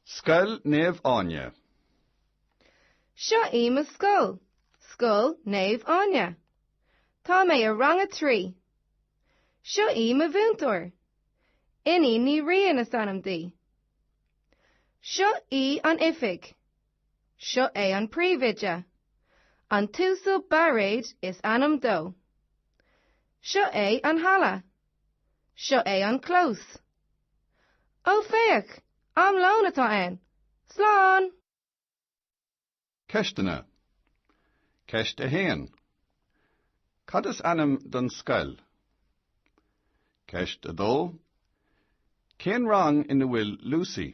Scoil Naomh Áine. Seo í mo scoil, Scoil Naomh Áine. Tá mé i rang a trí. Seo í mo mhúinteoir. Iníon Ní Riain is ainm di. Seo í an oifig. Seo é an príomhoide. An tUasal Bairéid is ainm dó. Seo é an halla. Seo é an clós. Ó féach, am lóin atá ann. Slán! Ceisteanna. Ceist 1. Cad is ainm don scoil? Ceist 2. Cén rang ina bhfuil Lucy?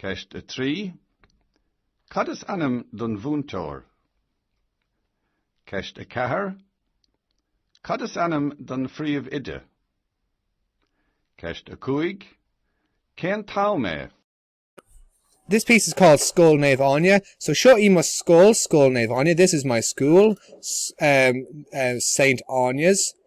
Ceist 3. Cad is ainm don mhúinteoir? Ceist 4 Cad is ainm don phríomhoide? Ceist 5 Cén t-am é? This piece is called Scoil Naomh Áine, so Seo í mo scoil, Scoil Naomh Áine. This is my school, em, Saint Áine's.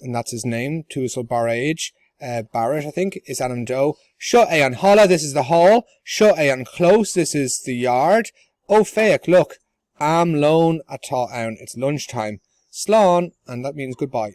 and that's his name, tUasal Bairéid, eh, Barrett, I think, is ainm dó, Seo é an halla, this is the hall, Seo é an clós, this is the yard, Ó féach, look! Am lóin atá ann, it's lunch time, Slán, and that means goodbye.